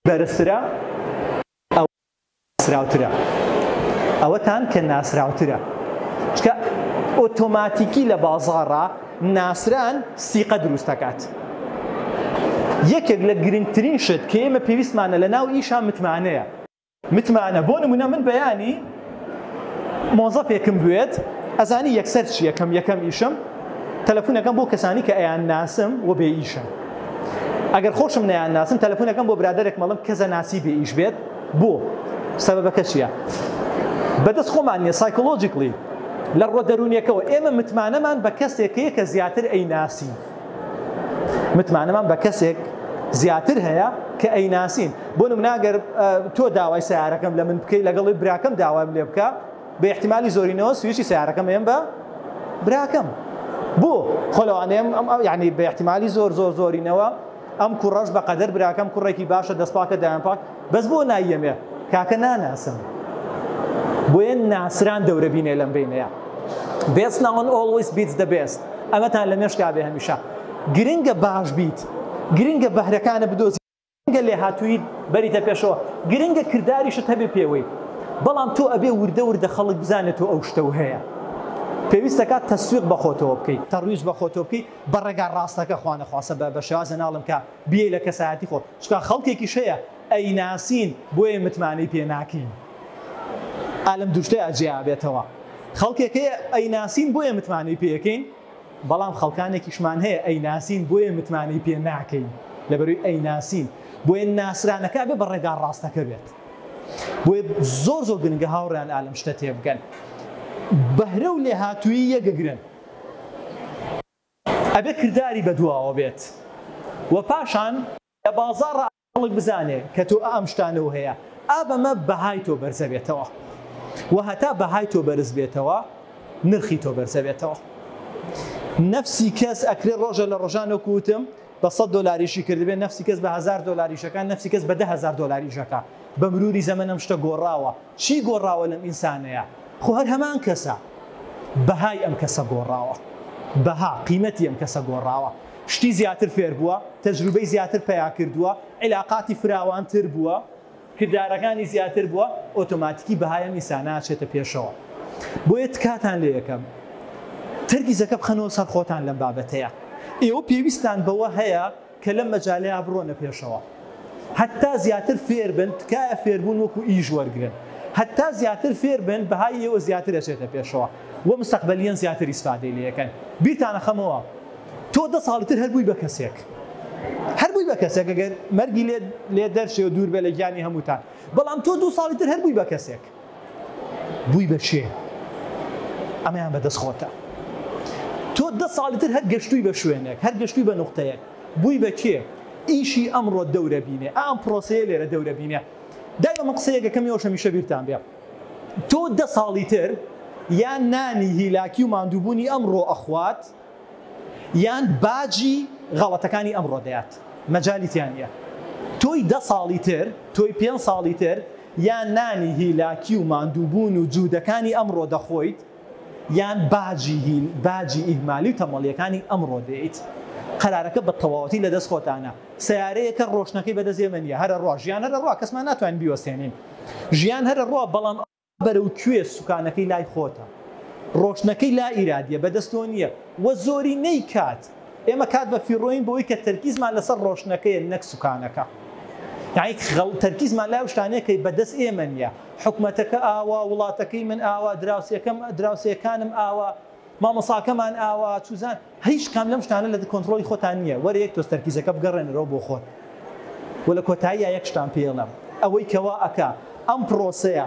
بەرزترە ئەوە ناسراوترە ئەوەتان کە ناسراوترە چکە ئۆتۆماتیکی لە بازاڕا ناسران سیقە دروستەکات یەکێک لە گرنگترین شت کە ئێمە پێویستمانە لە ناو ئیشا متمانەیە. متمانە بۆ نمونە من بەیانی مۆزەفێکم بوێت ئەزانی یەکسەر چی یەکەم یەکەم ئیشم تەلەفونەکەم بۆ کەسانی کە ئەیان ناسم و بێ ئیشە ئەگەر خۆشم نیان ناسم تەلەفونەکەم بۆ برادێک مەڵم کەزە ناسی بێ ئیش بێت بۆ سەبەکە چییە بەدەست خۆمان نیە سایکۆلۆژیکلی لە ڕۆ دەرونیەکەەوە ئێمە متمانەمان بە کەسێکەیە کە زیاتر ئەی ناسی متمانەمان بە کەسێک زیاتر هەیە کە ئەیناسین بۆ نمونە گەر تۆ داوای سیارەکەم لە من بکەی لەگەڵی براکەم داوایم لێ بکە بە احتمالی زۆرینەوە سویچی سیارەکەم ئێم بە براکەم بۆ خۆلەوانێم ئەم ئەو یعنی بە احتمالی زۆر زۆر زۆرینەوە ئەم کوڕەش بەقەدەر براکەم کوڕێکی باشە دەست پاکە دایان پاک بەس بۆ نایەمێ کاکە ناناسم بۆیە ناسران دەورە بینێ لەم بینەیە بێست ناون ئۆڵویس بیت دە بێست ئەمەتان لە مێشکا بێ هەمیشە گرنگە باش بیت گرنگە بەهرەکانە بدۆزی گرنگە لێ هاتووی بەریتە پێشەوە گرنگە کردداریشت هەبێ پێوەی بەڵام تۆ ئەبێ وردە وردە خەڵک بزانێت تۆ ئەو شتە و هەیە پێویستەکە تەسویق بەخۆتەوە بکەیت تەڕویش بەخۆتۆ بکەیت بە ڕێگا ڕاستەکە خوانەخواستە بە شێوازێ ناڵێم کە بیێی لە کەسایەتی خۆت چونکا خەڵکێکیش هەیە ئەیناسین بۆیە متمانەی پێ ناکەین ئا لەم دوشتەیا جیا بێتەوە خەڵکێک هەیە ئەیناسین بۆیە متمانەی پێەکەین بەڵام خەڵکانێکیشمان هەیە ئەیناسین بۆیە متمانەی پێ ناکەین لەبەروی ئەیناسین بۆیە ناسرانەکە بێ بە ڕێگا ڕاستەکە بێت بۆیە زۆر زۆر گرنگە هاوڕیان ئالم شتە تێبگەن بەهرە و لێهاتووی یەگەگرن ئەبێ کرداری بەدواوە بێت و پاشان لە بازاڕا خەڵک بزانێ کە تۆ ئا ئەم شتانە و هەیە ئا بەمە بەهای تۆ بەرزە بێتەوە و هەتا بەهای تۆ بەرز بێتەوە نرخی تۆ بەرزە بێتەوە نەفسی کەس ئەکرێ ڕۆژە لە ڕۆژان وەکو وتم بە سەد دۆلار ئیشی کردبێ نەفسی کەس بە هەزار دۆلار ئیش ئەکا نەفسی کەس بە دە هەزار دۆلار ئیش ئەکا بە مروری زەمەن ئەم شتە گۆڕاوە چی گۆڕاوە لەم ئینسانەیا؟ خۆ هەر هەمان کەسە. بەهای ئەم کەسە گۆڕاوە. بەها، قیمەتی ئەم کەسە گۆڕاوە. شتی زیاتر فێر بووە، تەجروبەی زیاتر پەیا کردووە، عیلاقاتی فراوانتر بووە، کردارەکانی زیاتر بووە، ئۆتۆماتیکی بەهای ئەم ئینسانە ئەچێتە پێشەوە. بۆیە تکاتان لێ ئەکەم تەرکیزەکە بخەنەوە سەر خۆتان لەم بابەتەیا. ئێوە پێویستتان بەوە هەیە. کە لەم مەجالەیا بڕۆنە پێشەوە هەتا زیاتر فێر بن تکایە فێربوون وەکو ئیش وەرگرن هەتا زیاتر فێر بن بەهای ئێوە زیاتر ئەچێتە پێشەوە وە مستەقبەلیەن زیاتر ئیسفادەی لێ ئەکەن بیرتان ئەخەمەوە تۆ دە ساڵی تر هەر بووی بە کەسێک هەر بووی بە کەسێک ئەگەر مەرگی لێ لێ دەرچێ و دوور بێ لە گیانی هەمووتان بەڵام تۆ دوو ساڵی تر هەر بووی بە کەسێک بووی بە شێ ئەمەیان بەدەست خۆتە تۆ دە ساڵی تر هەر گەشتووی بە شوێنێک هەر گەشتووی بە نوختەیەک بووی بە کێ ئیشی ئەمڕۆ دەورە بینێ ئام پرۆسەیە لێرە دەورە بینێ دایمە من قسەیەکە کەم یۆش هەمیشە بیرتان بێ تۆ دە ساڵی تر یان نانی هیلاکی و ماندووبوونی ئەمڕۆ ئەخوات یان باجی غەڵەتەکانی ئەمڕۆ دەات مەجالیتیان نیە تۆی دە ساڵی تر تۆی پێ ساڵی تر یان نانی هیلاکی و ماندووبوون و جوودەکانی ئەمڕۆ دەخۆیت، یان باجی هیل، باجی ئیهمالی و تەمەڵییەکانی ئەمڕۆ دێیت. قەرارەکە بە تەواوەتی لە دەست خۆتانە. سەیارەیەکە ڕۆشنەکەی بەدەست ئێمە نییە. هەرە ڕۆ. ژیان هەرە ڕۆ. کەسمان ناتوانین بیوەستێنین. ژیان هەرە ڕۆ، بەڵام ئەوە بەرەو کوێ؟ سوکانەکەی لای خۆتە. ڕۆشنەکەی لا ئیرادییە، بەدەست تۆ نییە. وە زۆرینەی کات ئێمە کات بە فیڕۆین بۆی کە تەرکیزمان لەسەر ڕۆشنەکەیە نەک سوکانەکە یانی خەڵ تەرکیزمان لای ئەو شتانەیە کە بەدەست ئێمە نییە حکومەتەکە ئاوا وڵاتەکەی من ئاوا دراوسێکەم دراوسێکانم ئاوا مامۆساکەمان ئاوا چوزان هیچ کام لەم شتانە لە کۆنترۆڵی خۆتان نییە وەرە یەک تۆز تەرکیزەکە بگەڕێنەرەوە بۆ خۆت و لە کۆتاییە یەک شتان پێڵم ئەوەی کەوا ئەکا ئەم پرۆسەیە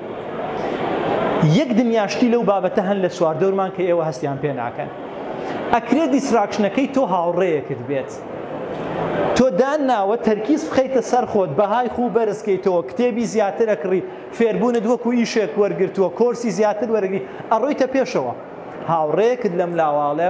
یەک دنیا شتی لەو بابەتە هەن لە چواردەورمان کە ئێوە هەستیان پێ ناکەن ئەکرێ دیستراکشنەکەی تۆ هاوڕێیەکت بێت تۆ دان ناوە تەرکیز بخەیتە سەر خۆت بەهای خوو بەرزکەیتەوە کتێبی زیاتر ئەکڕی فێربوونت وەکو ئیشێک وەرگرتووە کۆرسی زیاتر وەرگری ئەڕۆیتە پێشەوە هاوڕێیەکت لەم لاواڵێ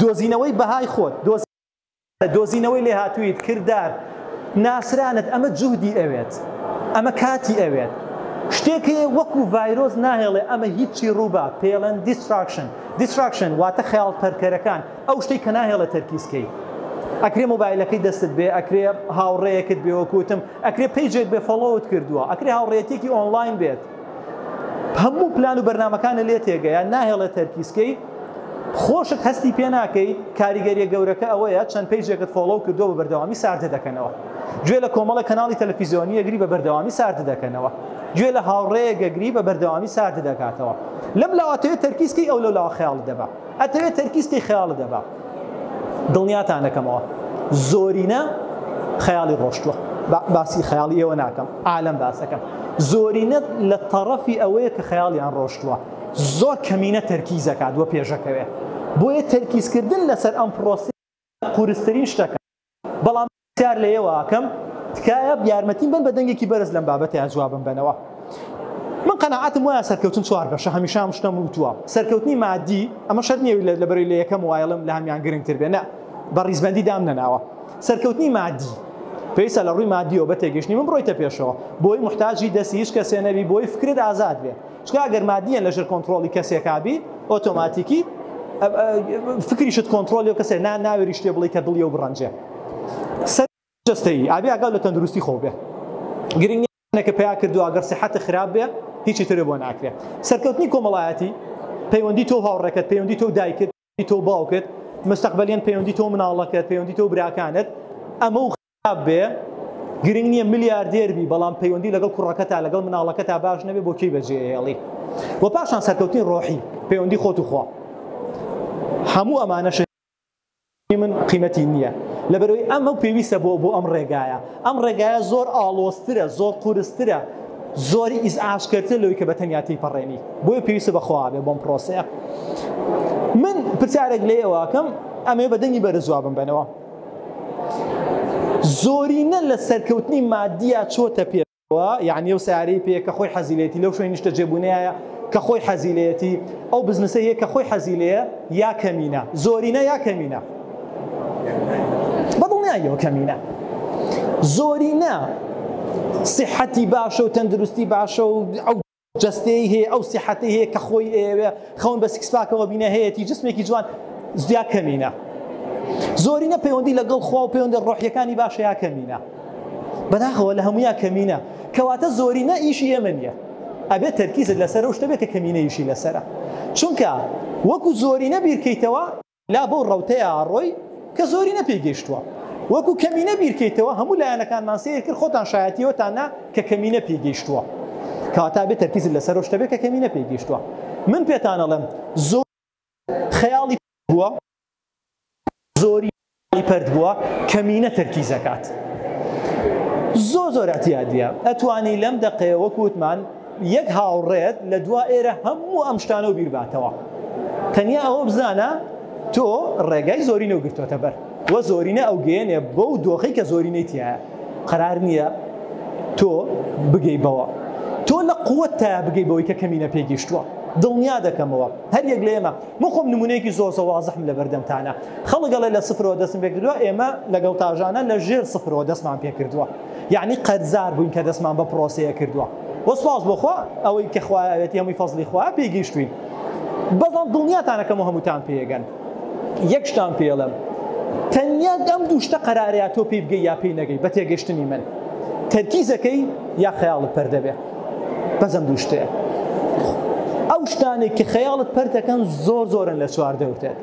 دۆزینەوەی بەهای خۆت، دۆزینەوەی لێهاتووییت، کردار، ناسرانت، ئەمە جوهدی ئەوێت، ئەمە کاتی ئەوێت. شتێک هەیە وەکو ڤایرۆس ناهێڵێ ئەمە هیچی ڕووبا، پێڵێن دیستراکشن، Distraction، واتە خەیاڵ تەرکەرەکان، ئەو شتەی کە ناهێڵێ تەرکیز کەی. ئەکرێ مۆبایلەکەی دەستت بێ، ئەکرێ هاوڕێیەکت بێ وەکو وتم، ئەکرێ پەیجێک بێ فۆڵۆوت کردووە، ئەکرێ هاوڕێیەتیەکی ئۆنڵاین بێت. هەموو پلان و بەرنمەکانە لێ تێگەیان ناهێڵێ تەرکیزکەی خۆشت هەستی پێ ناکەی کاریگەریە گەورەکە ئەوەیە چەند پێیجێکت فۆڵۆ کردو بە بەردەوامی ساردە دەکەنەوە گوێ لە کۆمەڵە کەناڵی تەلەفیزیۆنی یەگری بە بەردەوامی ساردە دەکەنەوە گوێ لە هاوڕەیە گەگری بە بەردەوامی ساردە دەکاتەوە لەم لاواتەیە تەرکیزکەی ئەو لەلاوە خەیاڵ دەبا ئەتەوێت تەرکیزکەی خەیاڵ دەبا دڵنیاتان دەکەمەوە زۆرینە خەیاڵی ڕۆشتووە باسی خەیاڵی ئێوە ناکەم عالم باسەکەم زۆرینە لە تەڕەفی ئەوەیە کە خەیاڵیان ڕۆشتووە زۆر کەمینە تەرکیزەکات وە پێشەکەوێ بۆیە تەرکیزکردن لەسەر ئەم پرۆسی قورسترین شتەکە بەڵام پرسیار لە ئێوە ئەکەم تکایە یارمەتیم بەن بە دەنگێکی بەرز لەم بابەتەیا جوابم بەنەوە من قەناعەتم وایە سەرکەوتن چوار بەشە هەمیشە ئەم شتەم وتووە سەرکەوتنی مادی ئەمە شەر نییە لە لەبەرەی لە یەکەم وایڵم لە هەمیان گرنگتر بێ نە بە ڕیزبەندی دام نەناوە سەرکەوتنی مادی پێویستە لە ڕووی مادیەوە بە تێگەشتنی من بڕۆیتە پێشەوە بۆی محتاجی دەستی هیچ کەسێ نەبی بۆی فکرت ئازاد بێ چکە ئەگەر مادیەن لە ژر کۆنترۆڵی کەسێکا بی ئۆتۆماتیکی فکریشت کۆنترۆلی و کەسێ نا ناوێری شتێ بڵی کە دڵی و بڕەنجێ سەر جستەی ئابی ئاگاو لە تەندروستی خۆ بێ گرنگ نەکە پیا کردو ئەگەر سەحەتە خراپ بێ هیچی ترێ بۆ ناکرێ سەرکەوتنی کۆمەڵایەتی پەیوەندی تۆ هاوڕێکەت پەیوەندی تۆ دایکت پەیوەندی تۆو باوکت مستەقبەلیەن پەیوەندی تۆو مناڵەکەت پەیوەندی تۆو براکانت ئەمەو خراپ بێ گرنگ نییە ملیاردێر بی بەڵام پەیوەندی لەگەڵ کوڕەکە تا لەگەڵ مناڵەکە تا باش نەبێ بۆ کەی بەجێهێڵی و پاشان سەرکەوتنی ڕۆحی پەیوەندی خۆت و خوا هەموو ئەمانەش من قیمەتی نییە لەبەرەوەی ئەمە پێویستە بۆ بۆ ئەم ڕێگایە ئەم ڕێگایە زۆر ئاڵۆسترە زۆر قورسترە زۆر ئیزعاجکەرترە لەوەی کە بە تەنیا تێیپەڕێنی بۆیە پێویستە بە خۆابێ بۆم پرۆسەیە من پرسیارێک لە ئێوەکەم ئەمێ بە دەنگی بەرە جوابم بنەوە زۆرینە لە سەرکەوتنی مادیە چۆتە پێوە یعنی ئەو سیارەی پێ کە خۆی حەزیلێتی لەو شوێن نیشتە جێبوونەیە کە خۆی حەزیلەتی ئەو بزنسە هەیە کە خۆی حەزیلەیە یا کەمینە زۆرینە یا کەمینە بەدڵنیایەوە کەمینە زۆرینە سیحەتی باشە و تەندروستی باشە و ئەو جستەی هەیە ئەو سیحەتی هەیە کە خۆی ئەوێ خەون بە سکسپاکەوە بینە هەیەی جسمێکی جوان زیا کەمینە زۆرینە پەیوەندی لەگەڵ خوا و پەیوەندە ڕۆحیەکانی باشەیە کەمینە بەداخەوە لە هەمویا کەمینە کەواتە زۆرینە ئیشی ئێمە نیە ئەبێت تەرکیزت لەسەر شتە بێت کە کەمینەیشی لەسرە چونکە وەکو زۆرینە بیرکەیتەوە لا بەو ڕەوتەیە ئەڕۆی کە زۆرینە پێی گەیشتووە. وەکو کەمینە بیرکەیتەوە هەموو لایەنەکانمان سەیر کرد خۆتان شایەتی ئەوەتان نا کە کەمینە پێی گەیشتووە. کەواتە ئەبێ تەرکیزت لەسەر ئەو شتە بێ کە کەمینە پێی گەیشتووە. من پێتان ئەڵێم زۆرینە خەیاڵی پەرت بووە، زۆرینە خەیاڵی پەرت بووە، کەمینە تەرکیز ئەکات. زۆر زۆر ئیعتیادییە. ئەتوانی لەم دەقەیە وەکو وتمان، یەک هاوڕێت لە دوا ئێرە هەموو ئەم شتانەو بیرباتەوە تەنیا ئەوە بزانە تۆ ڕێگای زۆرینە و گرتۆتە بەر وە زۆرینە ئەو گەێنێ بۆ و دۆخی کە زۆرینەی تایە قەرار نییە تۆ بگەی بەوە تۆ لە قوت تا بگەی بەوەی کە کەمینە پێگەیشتووە دڵنیا دەکەمەوە هەر یەک لە ئێمە من خۆم نمونەیەکی زۆر زەوازحم لە بەردەمتانە خەڵگەڵێ لە سفرەوە دەستم پێکردووە ئێمە لەگەڵ تاژانە لە ژێر سفرەوە دەستمان پێکردووە یەعنی قەرزار بووین کە دەستمان بە پرۆسەیە کردووە وە سپاس بۆ خوا ئەوەی کە خوا ئەوێتی هەمووی فەزلی خوا پێی گەیشتوین بەڵام دڵنیاتانەکەم و هەمووتان پێگەن یەک شتان پێڵم تەنیا ئەم دوو شتە قەرارەیە تۆ پێی بگەی یا پێی نەگەی بە تێگەشتنی من تەرکیزەکەی یا خەیاڵت پەر دەبێ بەزەم دوو شتەیە ئەو شتانێک کە خەیاڵت پەرتەکەن زۆر زۆرن لە چوار دەوتێت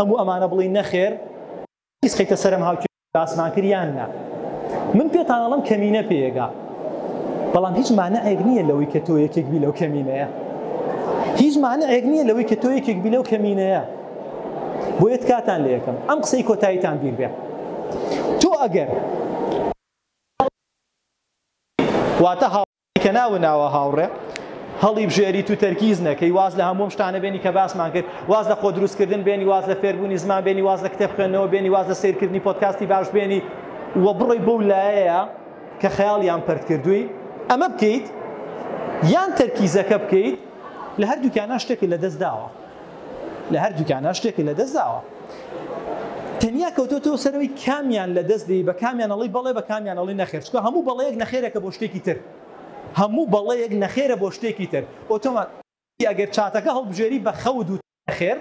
هەموو ئەمانە بڵێی نەخێر هیچ خەیتە سەرم هاوکێشەی باسمان کرد یان نا من پێتان ئەڵم کەمینە پێگا بەڵام هیچ مانعێک نییە لەوەی کە تۆ یەکێک بی لەو کەمینەیە هیچ مانعێک نییە لەوەی کە تۆ یەکێک بی لەو کەمینەیە بۆ یەت کاتان لە یەکەم ئەم قسەی کۆتاییتان بیر بێ تۆ ئەگەر واتە ئەی کە ناوە ناوە هاوڕێ هەڵیبژێریت و تەرکیز نەکەی، واز لە هەموو ئەم شتانە بێنی کە باسمان کرد، واز لە خۆدروستکردن بێنی، واز لە فێربوونی زمان بێنی، واز لە کتێب خوێندنەوە بێنی، واز لە سەیرکردنی پۆدکاستی باش بێنی و بڕۆی بەو لایەیە کە خەیاڵیان پەرت کردووی ئەمە بکەیت یان تەرکیزەکە بکەیت، لە هەردووکیانا شتێکت لەدەست داوە. لە هەردووکیانە شتێکت لەدەست داوە تەنیا کەوتۆتەوە سەرەوەی کامیان لە دەست دەی بە کامیان ئەڵی بەڵێ بە کامیان ئەڵی نەخێر چکە هەموو بەڵەیەک نەخێرەکە بۆ شتێکی تر هەموو بەڵەیەک نەخێرە بۆ شتێکی تر ئۆتۆمان ئەگەر چاتەکە هەڵبژێری بە خەوت وت نەخێر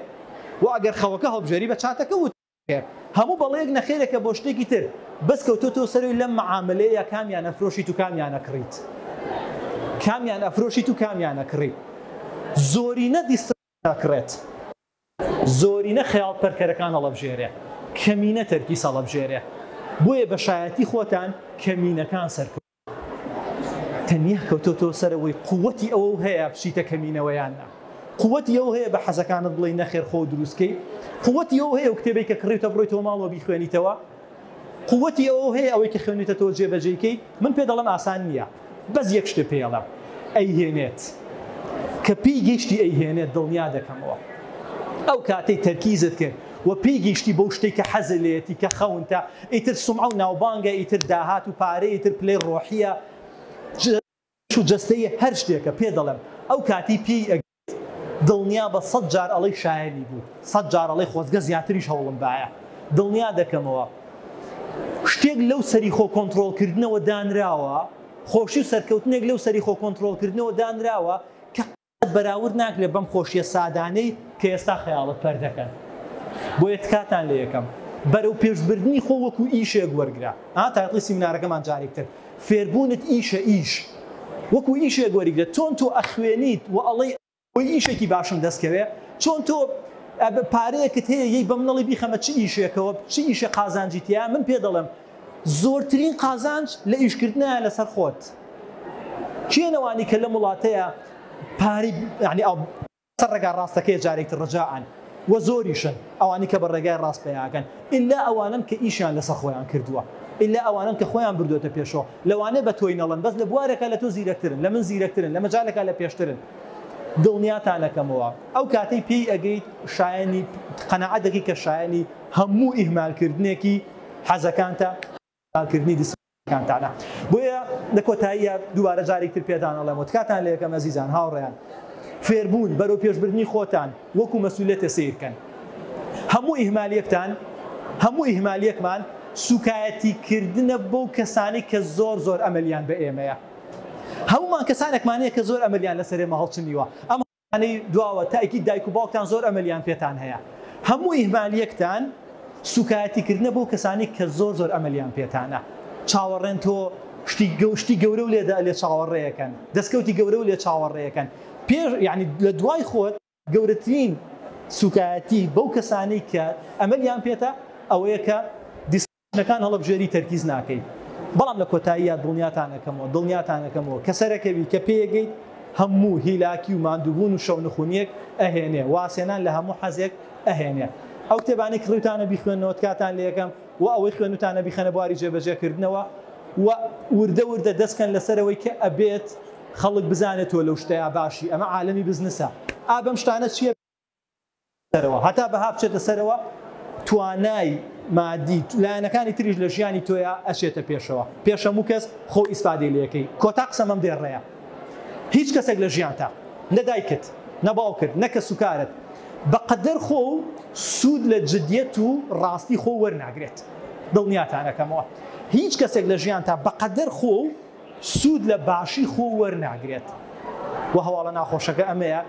و ئەگەر خەوەکە هەڵبژێری بە چاتەکە وت خێر هەموو بەڵێیەک نەخێرێکە بۆ شتێکی تر بەس کەوتوە تۆ سەروی لەم معامەلەیە کامیان ئەفرۆشیت و کامیان ئەکڕیت کامیان ئەفرۆشیت و کامیان ئەکڕیت زۆرینە دیستراکشن ئەکڕێت زۆرینە خەیاڵ پەرکەرەکان هەڵەبژێرێ کەمینە تەرکیز هەڵەبژێرێ بۆیە بە شایەتی خۆتان کەمینەکان سەرکەوتوون. تەنیا کەوتۆتەوە سەر ئەوەی قوتی ئەوەو هەیە بچیتە کەمینەوە یان نا قوتی ئەو هەیە بە حەزەکانت بڵێ نەخێر خۆ دروستکەی قوتی ئەو هەیە و کتێبی کە کڕیتە بڕۆیتەوە ماڵەوە بیخوێنیتەوە قوتی ئەو هەیە ئەوەی کە خوێنیتەوە جێبەجێیکەی من پێ دەڵم ئاسان نییە بەس یەک شتێ پێڵە ئەیهێنێت کە پێی گەشتی ئەیهێنێت دڵنیا دەکەمەوە ئەو کاتەی تەرکیزت کرد و پێی گەیشتی بەو شتەی کە حەزی لێیەتی کە خەونتە ئیتر سومعە و ناوبانگە ئیتر داهات و پارەیە ئیتر پلەی ڕۆحیە جەش و جەستەیە هەر شتێکە پێت دەڵێم ئەو کاتی پێی ئەگریت دڵنیابە سەد جار ئەڵێی شایەنی بوو سەد جار ئەڵێی خۆزگە زیاتریش هەوڵم بایە دڵنیا دەکەمەوە شتێک لەو سەری خۆ کۆنترۆڵ کردنەوە دانراوە خۆشی و سەرکەوتنێک لەو سەری خۆ کۆنترۆڵ کردنەوە دانراوە قەت بەراورد ناکرێت بەم خۆشیە سادانەی کە ئێستا خەیاڵت پەر دەکەن بۆیە تکاتان لە یەکەم بەرەو پێش بردنی خۆ وەکو ئیشێک وەرگرە ها تایتڵی سیمینارەکەمان جارێک تر فێربونت ئیشە ئیش وەکو ئیشێک وەریگرە چۆن تۆ ئەخوێنیت و ئەڵێی ئەوەی ئیشێکی باشم دەست کەوێ چۆن تۆ پارەیەکت هەیە یەی بە منەڵی بیخەمە چ ئیشێکەوە چ ئیشێ قازانجی تیایە من پێ دەڵێم زۆرترین قازانج لە ئیشکردنایە لەسەر خۆت کێن ئەوانی کە لەم وڵاتەیە پارەی یانی ئەڵ سەر ڕێگا ڕاستەکەیە جارێک تر ڕجائەن وە زۆریشن ئەوانی کە بە ڕێگای ڕاست پەیاکەن ئیلا ئەوانەن کە ئیشیان لەسەر خۆیان کردووە ئیلا ئەوانەن کە خۆیان بردۆتە پێشۆ لەوانێ بە تۆی نەڵن بەس لە بوارێکا لە تۆ زیرەکترن لە من زیرەکترن لە مەجالێکا لە پێشترن دڵنیاتان ئەکەمەوە ئەو کاتەی پێی ئەگەیت شایەنی قەناعەت دەکەی کە شایەنی هەموو ئیهمالکردنێکی حەزەکانتە، کردنی دسکۆرسەکانتانە. بۆیە لە کۆتاییا دووبارە جارێکی تر پێتان ئەڵێم و تکاتان لێ ئەکەم ئەزیزان، هاوڕێیان، فێربوون، بەرەوپێشبردنی خۆتان وەکوو مەسوولیەتێ سەیر بکەن. هەموو ئیهمالیەکتان، هەموو ئیهمالیەکمان سووکایەتی کردنە بەو کەسانەی کە زۆر زۆر ئەمەلیان بە ئێمەیە. هەموومان کەسانێکمان هەیە کە زۆر ئەمەلیان لەسەر ئێمە هەڵچنیوە. ئەم. انی دواوە تاکید دایک و باوکتان زۆر ئەمەلیان پێتان هەیە هەموو ئیهمالیەکتان سوکایەتی کردنە بەو کەسانەی کە زۆر زۆر ئەمەلیان پێتانە چاوەڕێن تۆ شتی گەو شتی گەورەو لێ دە لێ چاوەڕێکەن دەسکەوتی گەورەو لێ چاوەڕێکەن پێش یانی لە دوای خۆت گەورەترین سوکایەتی بەو کەسانەی کە ئەمەلیان پێتە ئەوەیە کە ژنەکان هەڵەبژێری تەرکیز ناکەیت بەڵام لە کۆتاییا دڵنیاتان ئەکەمەوە دڵنیاتان ئەکەمەوە کە سەرەکەوی کە پێیەگەیت هەموو هیلاکی و ماندووبوون و شەونخونیەک ئەهێنێ وازهێنان لە هەموو حەزێک ئەهێنێ ئەو کتێبانەی کڕیوتانە بیخوێننەوە تکاتان لێکەم و ئەوەی خوێنوتانە بیخەنە بواری جێبەجێکردنەوە و وردە وردە دەستکەن لەسەرەوەی کە ئەبێت خەڵک بزانێت تۆ لەو شتەیا باشی ئەمە عالەمی بزنسە ئا بەم شتانە چیە سەرەوە هەتا بەها بچێتە سەرەوە توانای مادی لایەنەکانی تریش لە ژیانی تۆیا ئەچێتە پێشەوە پێش هەموو کەس خۆ ئیسفادەی لەکەی کۆتا قسەم ئەم دێڕەیە هیچ کەسێک لە ژیانتا نە دایکت نە باوکت نە کەس و کارت بەقەدەر خۆ و سوود لە جدیەت و ڕاستی خۆ وەرناگرێت دڵنیاتانەکەمەوە هیچ کەسێک لە ژیانتا بەقەدەر خۆ و سوود لە باشی خۆ وەرناگرێت و هەواڵە ناخۆشەکە ئەمەیە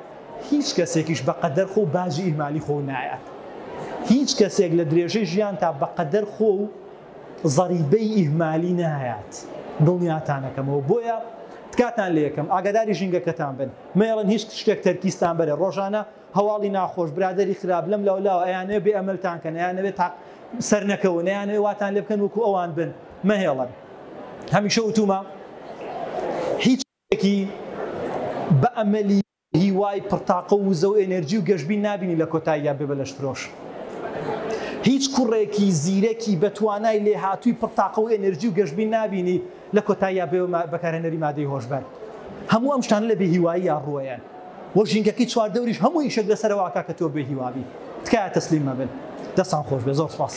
هیچ کەسێکیش بە قەدەر خۆ و باجی ئیهمالی خۆ نایات هیچ کەسێک لە درێژەی ژیانتا بە قەدەر خۆ و زەریبەی ئیهمالی نایات دڵنیاتان ئەکەمەوە بۆیە تکاتان لێ ئەکەم ئاگاداری ژینگەکەتان بن مەیەڵن هیچ شتێک تەرکیزتان بەرێ ڕۆژانە هەواڵی ناخۆش، برادەری خراپ، لەم لاو لاوە، ئەیانەوێ بێ ئەمەلتان کەن، ئەیانەوێ تاق سەرنەکەون، ئەیانەوێ واتان لێ بکەن وەکو ئەوان بن، مەهێڵن. هەمیشە وتومە هیچ کەسێکی بە ئەمەلی هیوای پڕتاقە و وزە و ئێنێرجی و گەشبین نابینی لە کۆتاییا بێ بە لەشفرۆش. هیچ کوڕێکی زیرەکی بە توانای لێهاتووی پڕتاقە و ئێنێرجی و گەشبین نابینی لە کۆتاییا بێ بەکارهێنەری مادەی هۆشبەر هەموو ئەم شتانە لە بێ هیواییە ڕووەیەن و ژینگەکەی چواردەوریش هەموو ئیشێک لەسەرەوە ئەکا کە تۆ بێ هیوا بی تکایە تەسلیم مەبن دەستان خۆش بێ زۆر سپاس.